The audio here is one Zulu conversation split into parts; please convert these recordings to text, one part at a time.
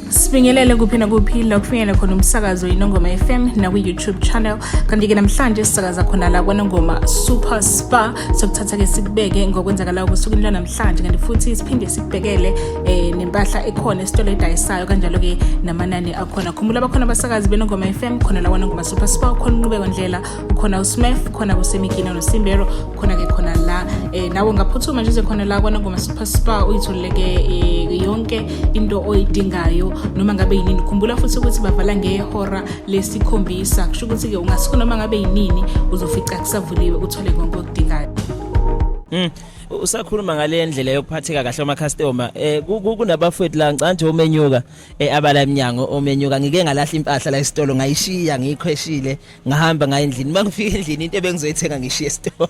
sibingelele kuphi nakuphi la kufinyela khona umsakazo inongoma fm nakwi-youtube channel kanti-ke namhlanje sisakaza khona la kwanongoma super spa sokuthatha-ke sikubeke ngokwenzakalayo kosukwini lwanamhlanje kanti futhi siphinde sikubhekele um eh, nempahla ekhona esitolo edayisayo kanjalo-ke namanani akhona khumbula bakhona abasakazi benongoma fm khona la kwanongoma super spa khona unqubeko ndlela khona usmef khona kusemigina nosimbero khona-ke khona la um nawe ngaphuthuma nje uze khona la kwanangoma super spa uyitholeleke um eh, yonke into oyidingayo noma ngabe yinini khumbula futhi ukuthi bavala ngehora lesikhombisa kusho ukuthi-ke ungasuka noma ngabe yinini uzofica kusavuliwe uthole konke okudingayo Mm. Usakhuluma ngale ndlela yokuphatheka kahle uma customer eh kunabafowethu la ngicanje omenyuka eh abala eminyango omenyuka ngike ngalahla impahla la esitolo ngayishiya ngiyikhweshile ngahamba ngaye endlini mangifika endlini into ebengizoyithenga ngishiye esitolo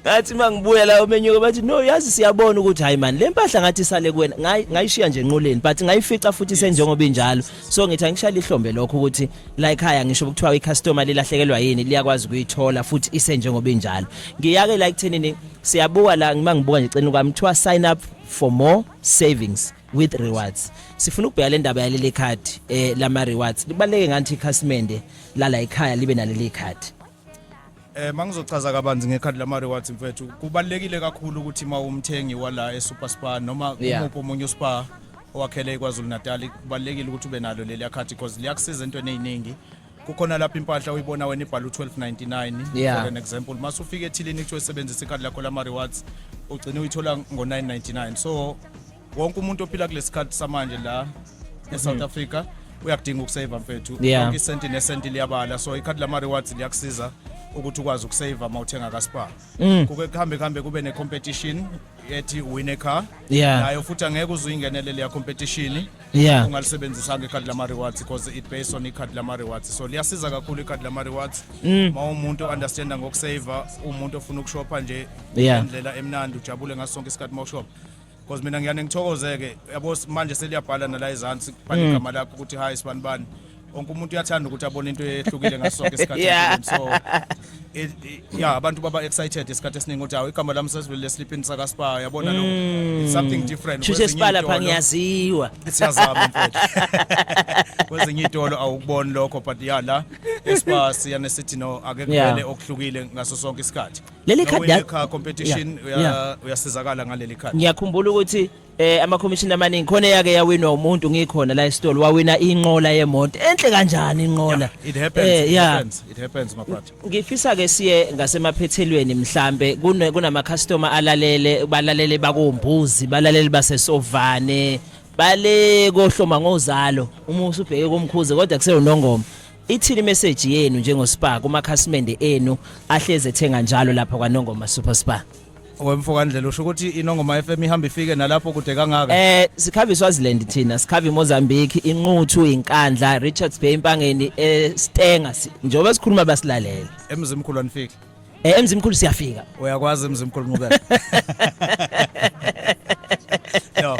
ngathi mangibuya la omenyuka bathi no yazi siyabona ukuthi hayi man le mpahla ngathi isale kuwena ngayishiya nje enqoleni but ngayifica futhi senjengoba injalo so ngithi angishaya ihlombe lokho ukuthi la ekhaya ngisho ukuthiwa icustomer lilahlekelwa yini liyakwazi ukuyithola futhi isenjengoba injalo ngiyake la ekuthenini siyabuka la ngimangibuka nje cenu kwami kuthiwa sign up for more savings with rewards sifuna ukubheka le ndaba yaleli card eh lama rewards libaleke ngathi ikhasimende lala ekhaya libe naleli card Eh mangizochaza kabanzi ngekhadi lama rewards mfethu kubalekile kakhulu ukuthi uma umthengi wala eSuper Spa noma umuphi omunye uSpa owakhele iKwaZulu Natal kubalekile ukuthi ube nalo leli yakhathi because liyakusiza entweni eziningi kukhona lapha impahla uyibona wena ibhala u-1299 Yeah. for an example mase ufika ethilini kuthiwa sebenzisa ikhadi lakho lama-rewards ugcine uyithola ngo-999 so wonke umuntu ophila kulesi sikhathi samanje la e-south africa uyakudinga ukuseva mfethu Mhm. Yeah. Yonke isenti nesenti liyabala so ikhadi lama-rewards liyakusiza ukuthi ukwazi ukuseva uma uthenga kaspar Mm. kuke kuhambe kuhambe kube ne-competition ethi win a car Yeah. nayo futhi angeke uze uyingenele leya competition yeah ungalisebenzisanga ikhadi lama-rewards because it based on ikhadi lama-rewards so liyasiza kakhulu ikhadi lama-rewards mm. ma umuntu understanda ngokusava umuntu ofuna ukushopha nje yeah. indlela emnandi ujabule ngaso sonke isikhathi ma ushopha because mina ngiyane ngithokoze-ke yabo manje seliyabhala nala ezansi bhale mm. igama lakho ukuthi hayi sibanibani wonke umuntu uyathanda ukuthi abone into ehlukile ngaso sonke isikhathi Yeah. empilweni. so it- it- yeah abantu baba excited isikhathi esiningi ukuthi hawu igama lami sesivele leslipini sakaspar yabona lo it's something different Shushe Kwezinye sipala pha iy'tolo- ngiyaziwa. siyazama mfethu kwezinye iy'tolo awukuboni lokho but ya la espa siyane sithi no ake Yeah. kuvele okuhlukile ngaso sonke isikhathi Leli No khadi win ya- a car competition Yeah, uya- yeah. uyasizakala ngaleli khadi Ngiyakhumbula ukuthi eh amakhomishini amaningi khona eyake yawinwa umuntu ngikhona la esitolo wawina inqola yemoto enhle kanjani inqola it happens eh, it yeah. happens it happens my brother ngifisa ke siye ngasemaphethelweni mhlambe kune kunama customer alalele balalele bakombuzi balalele basesovane bale kohloma ngozalo uma usubheke komkhuze kodwa kuseyonongoma ithini message yenu njengo Spar kuma khasimende enu ahleze ethenga njalo lapha kwaNongoma Super Spar wemfokandlela usho ukuthi inongoma FM ihamba ifike nalapho kude kangaka eh sikhava iSwaziland thina sikhava iMozambique inquthu inkandla Richards Bay impangeni eStenga eh, njengoba sikhuluma basilalela emzimkhulu anifiki eh emzimkhulu siyafika uyakwazi emzimkhulu ngubeka no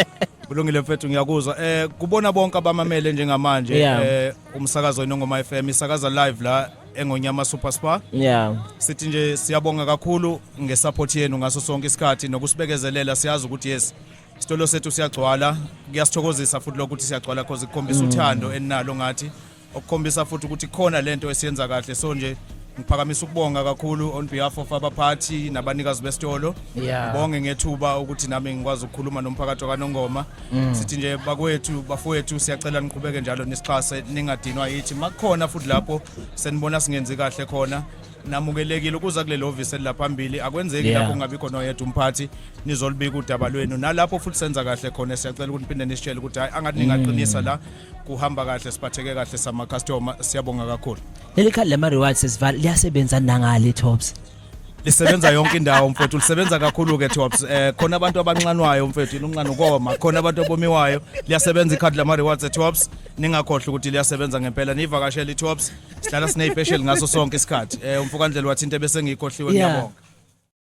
kulungile mfethu ngiyakuzwa eh kubona bonke abamamele njengamanje eh umsakazo inongoma FM isakaza live la engonyama super spa yeah sithi nje siyabonga kakhulu ngesupport yenu ngaso sonke isikhathi nokusibekezelela siyazi ukuthi yes isitolo sethu siyagcwala kuyasithokozisa futhi lokuthi siyagcwala because ikukhombisa mm. uthando eninalo ngathi okukhombisa futhi ukuthi khona lento esiyenza kahle so nje ngiphakamisa ukubonga kakhulu on behalf of abaphathi nabanikazi besitolo ngibonge ngethuba ukuthi nami ngikwazi ukukhuluma nomphakathi wakanongoma Mm. sithi nje bakwethu bafowethu siyacela niqhubeke njalo nisixhase ningadinwa yithi makukhona futhi lapho senibona singenzi kahle khona namukelekile ukuza kuleli hhovisi elilaphambili akwenzeki Yeah. lapho kungabikho noyedwa umphathi nizolibika udaba lwenu nalapho futhi senza kahle khona siyacela ukuthi niphinde nisitshele ukuthi hhayi angathi ningaqinisa la kuhamba kahle siphatheke kahle samakhastoma siyabonga kakhulu leli khadi lama-rewards sesivala liyasebenza nangale tops lisebenza yonke indawo mfethu lisebenza kakhulu ke Tops eh khona abantu abanxanwayo mfethu inunxana ukoma khona abantu abomiwayo liyasebenza ikhadi lama rewards e Tops ningakhohle ukuthi liyasebenza ngempela nivakashela i Tops sihlala sine special ngaso sonke isikhathi eh umfokandlela wathi into ebese ngiyikhohliwe Yeah. ngiyabonga